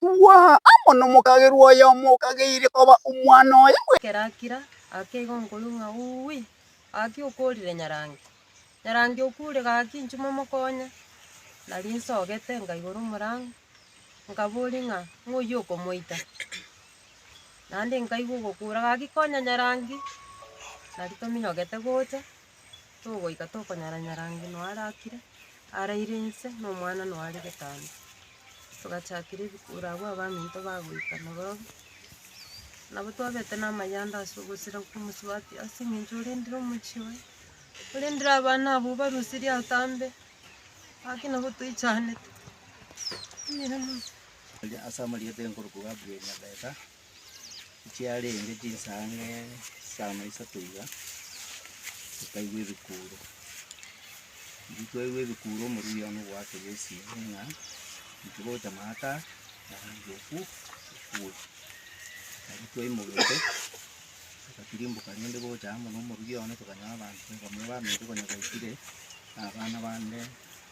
Tugwa aa amo nomokagerwa oyomo okageire koba omwana oye bweka. Ekero akira, gaki igo nkoigwa ng'a Uui, gaki okorire nyarange. Nyarange okuure gaki inchuo momokonye. Nari nsogete nkaigora omorango, nkaboria ng'a ng'oyio okomoita? Naende nkaigwa ogokuura gaki konya nyarange, nari tominyogete gocha. Togoika tokonyara-nyara ng'a noo are akire, araire inse na omwana noo are getambaa. Togachakera ebikura abwo abaminto bagoika na barobwo, nabo twabete na amayanda ase ogosira komosubati ase eng'encho orendire omochie oye, orendire abana abwo obarusirie atambe, gaki nabo toichanete. Ase amarieta y'enkoroku Gabriel Nyabeka. chiarenge chinsange chisano isato iga, tokaigwa ebikuuro. Riria twaigwa ebikuuro omorwiri one ogoakeria esimi ng'a inche ngocha maate aa, naende oku okwe. Nabo twaimogete, togatirimboka rende gocha amo na omorwiri one, tokanyora abanto bamwe baminto konya baikire, na abana bande.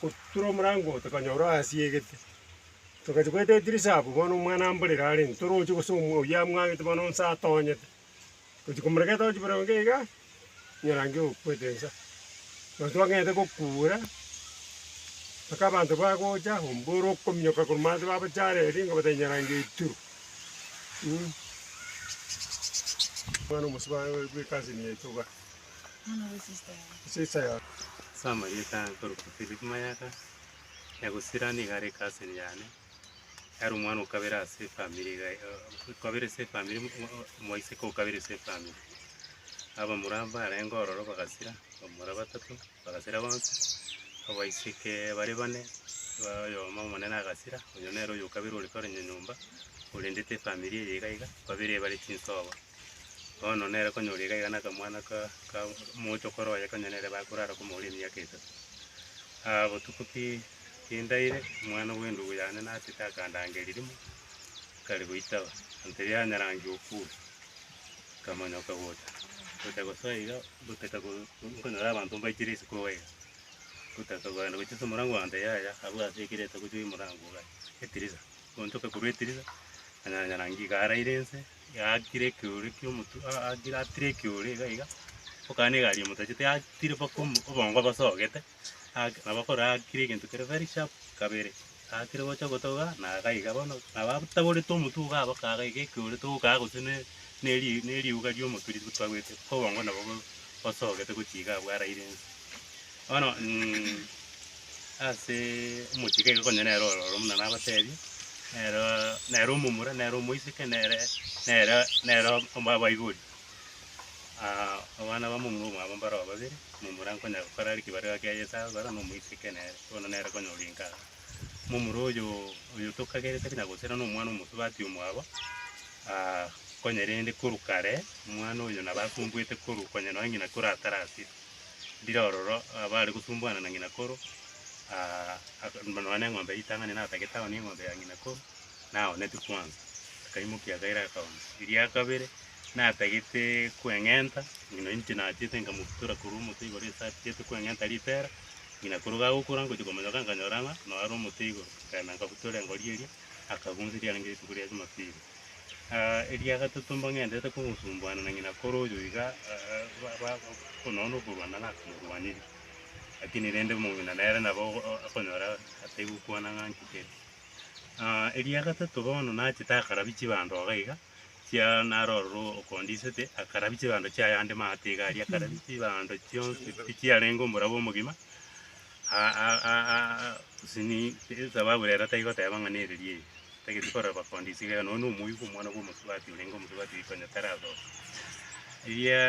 Gotura omorango oo tokanyora oasiegete, togachia goeta edirisa abwo, bono omwana amborera are intwe toroche gose omwa oyio amwangete bono onsi atonyete. Gochia komorega etochi buna onde iga, nyarange okwete ensa. Nabo twang'ete gokuura, mpaka abanto bagocha, omboro okominyoka korwa manse babochare erio ngabate nyarange iturwe mh, omwana omosubaa bweka ase emiya itoba. Ase amarieta akorokwa Philip Mayaka, egusira nigo are ecousin yane, ere omwana okabere ase efamiri iga iga okabere ase efamiri mo- mo- mo- omoiseke okabere ase efamiri. Abamura mbarenge ororo bagasira, bamura batato bagasira bonsi, abaiseke bare bane, ba oyomo omonene agasira, oyo nere oyo okabere ore kore nyonyomba, orendete efamiri eye iga iga, babere bare chinsobo. Bono nere konyora iga iga nakamwana ka ka omochokoro oye konya nere bakorara komoura emiaka etato. Aa botuko ki kindaire, omwana bw'endugu yane natete akandangia erimo, akare goitaba, ase erio nyarange okwa nkamonyoka gocha gocha gosoa iga gotaka go nkonyora abanto mbaikire isiko iga iga, gotaka kogenda gochia ase omorango ogancha yaya abwo ase ekero etagochia omorango iga etirisa, gochoka korwa etirisa, nanyora nyarange iga araire inse, Yaakire ekeore ki'omotu, a- aakire atire ekeore iga iga, okana egari emotachete yatire mpaka omo- obongo bosogete, ake nabo okoro aakire egento kere very sharp kabere, aakire gocha gotoga na iga iga bono nabo abataborete omotwe iga aba kaga iga ekeore togokaga gose ne neri neriuga ri'omotwe rigotwagwete, obongo nabo bo- bosogete gochia iga abwaraire inse. Bono ase omochie iga konya nere ororo buna nabateebie, nere nere omomura, nere omoiseke, nere nere nere omba abaibori. abana ba omomura omwabo mbaroo babere, omomura nkonya gokora are ekebarero kiaye ase ababera na omoiseke nere, bono nere konya orenka iga. Omomura oyo oyo tokagerete buna gose na omwana omosubati omwabo, konya rende korwa kare, omwana oyo nabo akumbuete korwa konya nonya ng'ina korwa atarasire. Ndire ororo abare gotumbwana na ng'ina koro, nonya neng'ombe ritang'ani natagete ao neng'ombe ya ng'ina koro, naoneti kwansa. Akaimokia akaira akaonsa. Eria kabere, natagete kweng'enta, ng'ina oyo inche naachete nkamobutora korwa omote igoro ase atagete kweng'enta ritera, ng'ina koro gagokura ngochia komonyoka nkanyora ng'a noyo are omote igoro. Nkaenda nkabutora engori eria, akagusa eriarenge rituko ria Jumapili. Eria gatato mbang'endete kogosumbuana na ng'ina kore oyo iga nonya nokorwana naro akomorwaniria, rakini rende omong'ina nere nabo okonyora atai gokwana ng'a nki kere. Eria gatato bono nachete akarabia chibando iga iga, chia naro ororo okondisete, akarabia chibando chiaye ande maate iga aria akarabia chibando chionsi pi chiarenge omorero omogima. Since bagure ere taigo teba ng'a nereria eye, tageti korora bakondi ise iga iga, nonya nomoigu omwana bw'omosubati orenge omosubati riko onye tarasoka. Eria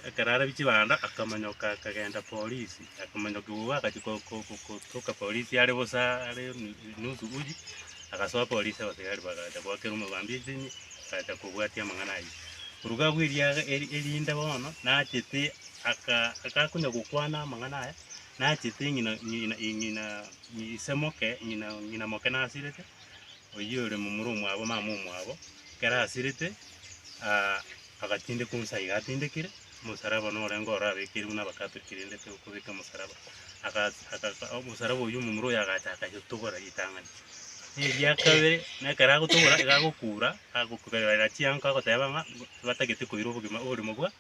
ekero arabie chibando akamanyoka akagenda polisi, akamanyoka igo agachia ko- ko- ko- kotoka polisi are bosa are nusu uchi, agasoa polisi abasigari bagacha goakera omobambi esimi, agacha kobwatia amang'ana ayio. Koruga abwo eria eri- erinde bono nachete aka- akakonya gokwana amang'ana aya, Nachete ng'ina, ng'ina, ng'ina, ise moke, ng'ina, ng'ina moke nasirete, oyio ore momura omwabo, mama omwabo, ekero asirete, ah, agatindekwa onsi aiga atindekire, omosalaba norenge oro abekeire buna abakatoliki rende tokobeka omosalaba, agas aka omosalaba oyio momura oyo agacha akayetobora ritang'ani. Eria kabere, na ekero agotobora, iga agokura, agokuberera chiango agoteba ng'a, batagete koira obogima oborimo bwa.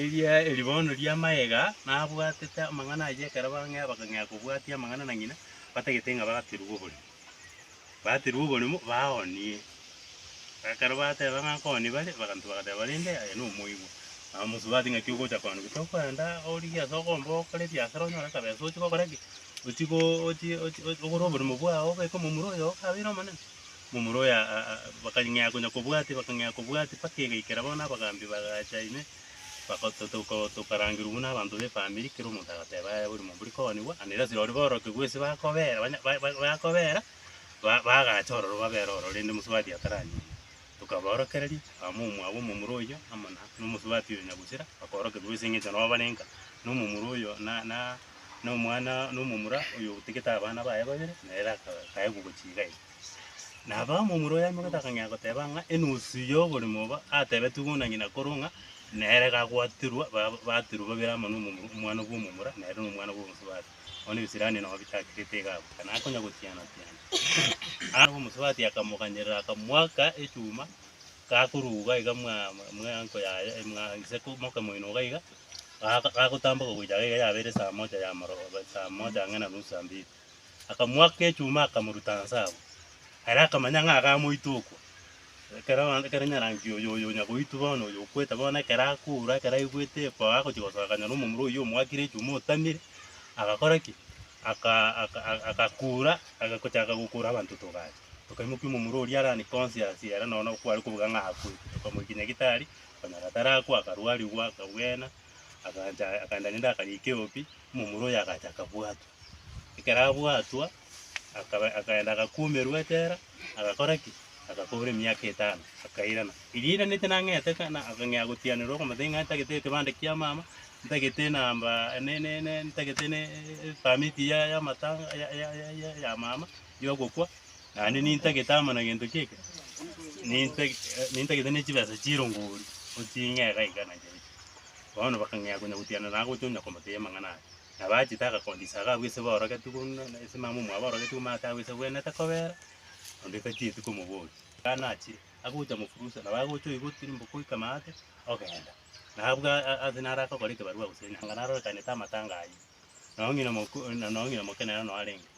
Eria eribono ri'amayega nabwatete amang'ana ayio ekero bang'ea bakang'ea kobwatia amang'ana na ng'ina, batagete ng'a bagaterwa oborimo. Baterwa oborimo baoonie. Ekero bateba ng'a nkoonie bare, abanto bagateba bare inde aye nomoigwa. Bamosubati ng'aki ogocha koonia gose tokwenda origie ase okomba okore ebiasara onyore akabesa ochie gokora ki? Ochie go ochie ochie ogore oborimo bwao obeke momura oyo okabeire omonene. Momura oyo bakang'ea konya kobwatia, bakang'ea kobwatia, mpaka egaikera bono abagaambi bagacha ime, tokarangerwa buna abanto b'efamiri, kera omonto agateba, Aye bori momura ikoonigwa, ande rirorio asira boroke gose bakobera, bakobera, bagacha ororo babere ororo rende omosubati ataranyare. Tokabaorokereria, abamwa omwabo omomura oyio amo na omosubati oyo nyagusira, bakorokereria gose engencho nabo bare nka na omomura oyo na na omwana na omomura oyo otigete abana baye babere, na ere akaegwa gochia iga iga. Na abaamo omura oyaimoketie akang'ea goteba ng'a enusu y'oborimo obo atebetigwe buna ng'ina korwa ng'a nere gagwaterwa ba- baterwa babere amo nomomura omwana bw'omomura na ere nomwana bw'omosubati. Bono Ebisirani nabo bitakirete iga abwo, kana akonya gotiana tiana. Aa omosubati akamoganyerera akamoaka echuma gakorwa iga iga mwa mwa enko yaye mwa gose moke moino iga iga, gaaka gakotamboka gocha iga yabeire saa moja ya amaroo saa moja ang'e na nusu saa mbili. akamoaka echuma akamoruta inse abwo. Ere akamanya ng'a iga amoite okwo. Ekero abanto ekero nyarangi oyo oyo onya goitwa bono oyo okwete bono ekero akourwa ekero aigwete ekwao agochia gosoka akanyora omomura oyio omoakire echuma otamire, agakora ki? Aka aka aka agakura agagochaka gokura abanto togacha. Tokaimokia omomura oria are unconscious ere nonye na kware kobuga ng'a akwete. Tokamoikia nyagitari, okonyora tarakwa akarwarigwa akabwena, agancha akaenda naende akarika eobi, omomura oyo agacha akabwatwa. Ekero abwatwa, akaba akaenda agakumerwa echela, agakora ki? Agakora emiaka etano, akairana. Erio airanete nang'ete ka- na akang'ea gotianerwa okomotebia ng'a ntagete ekebande kia mama, ntagete namba ne- ne- ne- ntagete ne permit ya y'amatanga ya- ya- ya- ya- ya mama y'ogokwa, naende nintagete amo na gento ki eke, nintag nintagete ne chibesa chire ngori, eching'ee iga iga nachiacha. Bono bakang'ea konya gotiana naye gocha onya komotebia amang'ana aya. Na bachete agakunda Isaka abwo ise borogetigwe buna ise mama omwabo orogetigwe maate agwo ise bwenete kobera, onde tachieti komoboria. Ekero nachire, agocha mofurusa, nabo agocha oigotwe rimboko goika maate, ogenda. Na abwo a- a- ase naro agakora ekebarua gose enyaga narorekanete amatanga ayio. Nao ng'ina moku- na- nao ng'ina moke nere nao arenge.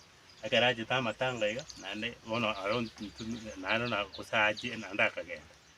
Ekero achete amatanga iga, naende bono aro ntu- ntu- naende na- gose aachie naende akagenda.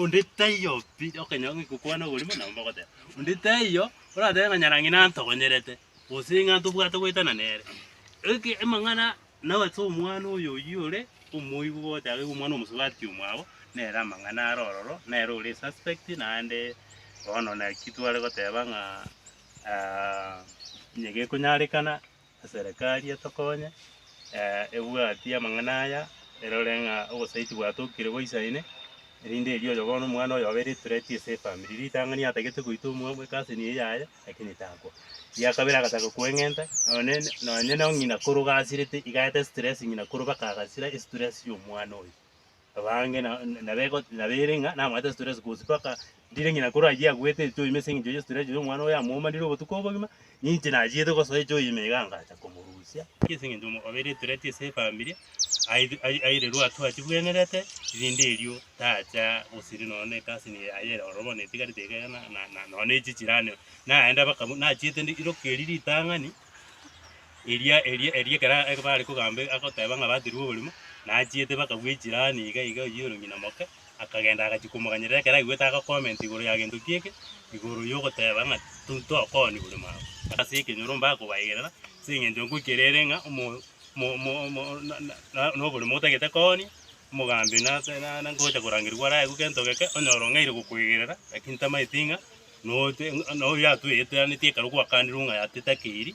Onde taiyo pi okonyora ng'a ekokwana oborimo nabo mbagoteba. Onde taiyo oratebe ng'a nyarang'ina antogonyerete, gose ng'a ntobwate goetana nere. Eke emang'ana nao ase omwana oyo oyio ore omoibi gogoteeba ng'a omwana omosubati omwabo, nere amang'ana are ororo, nere ore esuspect naende bono naki tware goteba ng'a onye gekonyarekana. Eserekari etokonye, ebwati amang'ana aya, erore ng'a obosaiti bwatokire goisa ime, erinde erio oyobono omwana oyobe ere threat ase efamiri. Ritang'ani atagete goita omwamu ecousin eye yaye, lakini takwa. Eria kabere agataka koeng'enta, nonye nonye no ng'ina koro gasirete, igaeta estress ng'ina koro baka agasira estress ya omwana oyo. Abange nabeire ng'a namaete stress cause mpaka ndire ng'ina kore ayio agwete echoima ase eng'encho ye stress ya omwana oyo amomanire obotuko obogima, ninche nachiete gosoa echoima iga ngacha komorusia. Ase eng'encho obeire threat ase efamiri airirwe hatua chibwenerete erinde erio tacha gosiria nonya na egasi eye aye ere ororo bono etigarete iga iga na nonya na echi chirane naende mpaka nachiete ndokie erio ritang'ani. Eria, eria, eria ekero a- bare kogamba e- agoteba ng'a baterwa oborimo, nachiete mpaka bwa echirani iga iga oyio ore ng'ina moke, akagenda agachia komoganyerera ekero aigwete agacomment igoro ya gento kieke, igoro yogoteba ng'a to- tokoni borimo aba. Ase ekenyoro mbare kobaigerera, ase eng'encho nkwo kerere ng'a omo- mo- mo- mo na- na- na- na oborimo otagete koonia, omogambi nase na- na ngocha korangerigwa araigu gento geke, onyore ong'aire gokoigerera, lakini tamaeti ng'a Noyote noyoyatoeteanetie ekero gwakanirwe ng'a yateta keiri,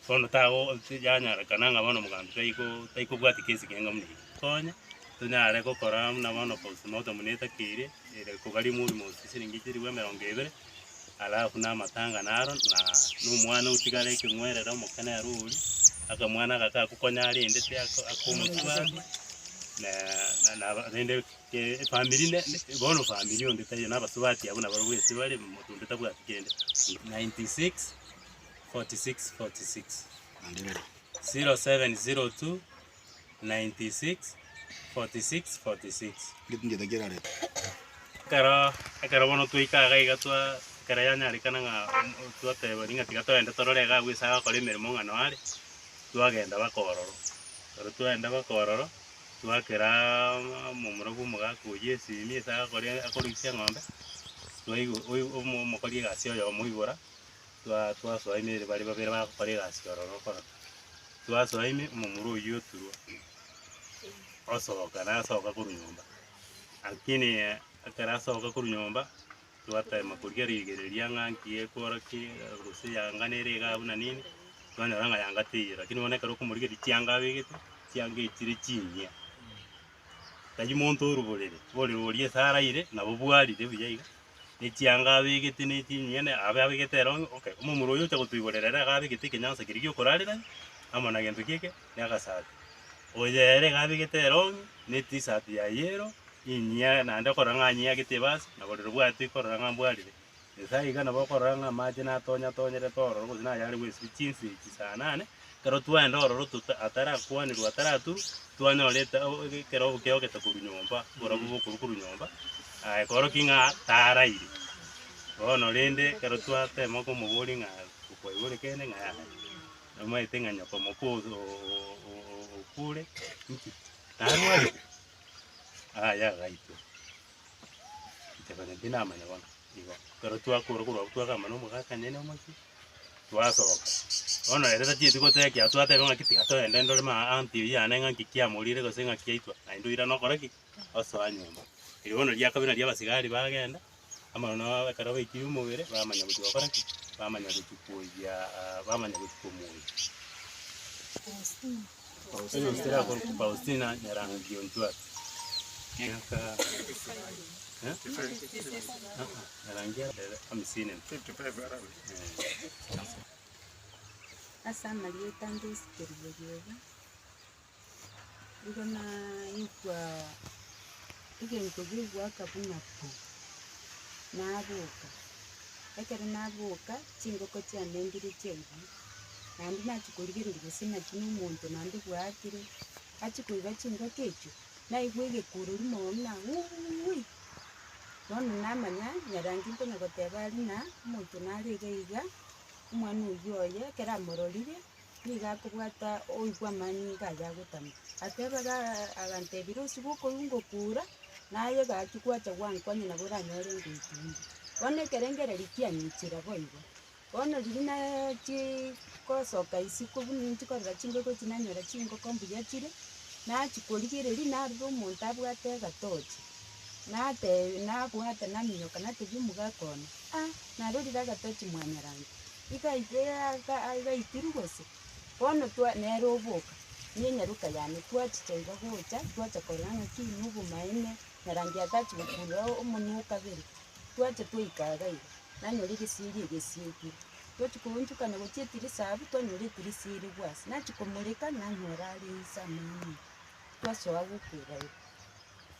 bono tago tiyanyarekana ng'a bono omogambi taiko taikobwati kesi kenga buna eke. Konya tonyare gokora buna bono post mortem buna etaka eria ere kobaria omorimo gose chiliingi chilifu emerongo ebere, alafu na amatang'ana aro na na omwana otigare ekeng'werere omokene ere oria, akamwana aka kagokonya rende tiako akomotwabi na na rende. eh, efamiri ne- ne- bono efamiri onde taiyo, na abasubati abwo nabarobwo gese bare, omonto onde tabwati kende. 96 46 46 0702 96 46 46 Ekero ekero bono twaika iga iga twa ekero yanyarekana ng'a mm, twateba ring'a tiga togende torore iga agwo ase agokora emeremo ng'a noo are, twagenda baka ororo. Ekero twagenda baka ororo. Twakera amo omoro bw'omogaka o Yesi ime ase agakora akoroisia eng'ombe, twaigu oigu omo omokori egasi oyomo oibora, twa twasoa ime ere bare babere bagokora egasi ororo okora. Twasoa ime omomura oyio oturwa osoka nasoka korwa nyomba, lakini ekero asoka korwa nyomba. twatema koria rigereria ng'a nki ekworokia gose yanga nere igaa buna nini, twanyora ng'a yanga teiyo lakini bono ekero okomorigereria chianga abegete, chianga echire chinyia. Tari monto oruborere, ororo oria ase araire nabo bwarire buya iga, ne chianga abegete ne chinyia ne abe abegete ere onye, okay, omomura oyo ocha gotoiborera ere iga abegete ekenyansa keria gi'okorarera amo na gento ki'eke. negasaati. Oyo ere iga abegete erongi, ne tisaati ya yero, inyia naende okorora ng'a anyiagete ebasi, na borero bw'ato ikorora ng'a mbwarire. Nyasae iga nabo okorora ng'a amache natonyatonyerete ororo gose nayare bw'esibie chinsa echi saa nane, ekero twaenda ororo tota atarakwanerwa ataraturwa, twanyorete ekerogo kiogete korwa nyomba, oborabu bokorwa korwa nyomba, aye kworokia ng'a taraire. Bono rende ekero twatema komoboria ng'a okwaigure kende ng'a yaya. Omaete ng'a nyoko moko okure inki? Narwarete? Aye agaitwa. Inche konya tinamanya bono. Igo ekero twakora korwa abwo twagamba nomogakanyene omochie, twasoka. Bono ere tachieti goteba ekiagera twateba ng'aki tiga togende ndore ma aunty oyio ane ng'aki kiamorire gose ng'aki yaitwa, naende oirana okore ki? Osoa nyomba. Riria bono riakabire nari abasigari bagenda. Amaroro nao ekero baikirie omobere, bamanya gochia gokora ki? Bamanya gochia koiyia aa bamanya gochia komoiyia. Faustina akorokwa Faustina Nyarangiuntwati, miaka eh? Ah, ah, Nyarangia ere hamisini na eh. Ase amarieta ndisikerigeri obo. nigo naigwa egento gegoaka buna pu, naboka, ekero naboka, chingoko chiane ndire chiaiyire, naende nachia korigereria gose naki na omonto naende bwatire, achia koiba chingoko echio, naigwa egekurori mono buna uuiiui, bono namanya nyarange nkonya goteba aria na omonto nare iga iga, omwana oyio oye ekero amororire. nigo akobwata oigwa amani nigo aye agotama. Ateba agantebia rusi bokoigwa ngokura, naye gaki gwacha gwanka onye nabo oranyore ngoikwa ime. Bono ekerengererio kianyichire boigo. Bono riria nachii gosoka isiko buna ninchi korora chingoko echi nanyora chingoko mbuya chire, nachi korigereria narora omonto abwate egatochi, nateb nabwate naminyoka natebia omogaka one, ah narorire agatochi mwanyaranto. igaitirwe gose, bono twa nere oboka, ne enyaroka yane twachicha iga gocha, twacha korora ng'aki na obomaene, na rangi atachi gokurura omonwe o kabere, twacha twaika iga iga, nanyora egeseri egesiekire, twachi koonchokana gochia etirisa abwo, twanyora etirisa erigwe ase, nachi komoreka, nanyora are inse amo ng'a nigo, twasoa goka iga iga.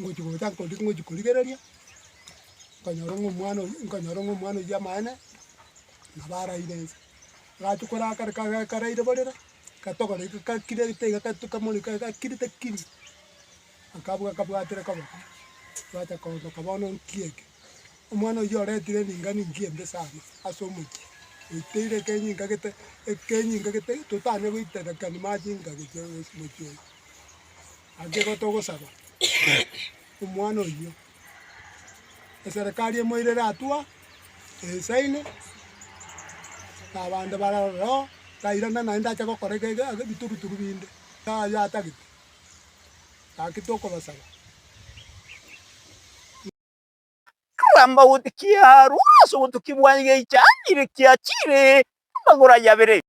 ngochi gocha nkondi ngochi korigereria, nkanyora ng'a omwana oyio, nkanyora ng'a omwana oyio amaene, nabo araire inse. Agacha koraa kare kare kare karaire borere, katogora iga kakire gete iga katu kamoreka iga kakire takiri, akabwa akabwatera koba kare, bwacha koondoka bono nkiya eke. Omwana oyio oretire ring'ana engiya embe sana ase omochie, oiteire ekenyi inga gete ekenyi inga gete totane goitera ekero mache inga gete ase omochie oyo. Naki gotogosaba omwana oyio, eserekari emoirere atua, esaine, na abande bare ororo, tairana naende ache gokora ege- ege- ege ebituruturu binde, ng'a ayio atagete. Gaki tokobasaba. Akagamba goti kiarwa ase obotuki bwa igeicha, chire kiachire amagoro ayio abere.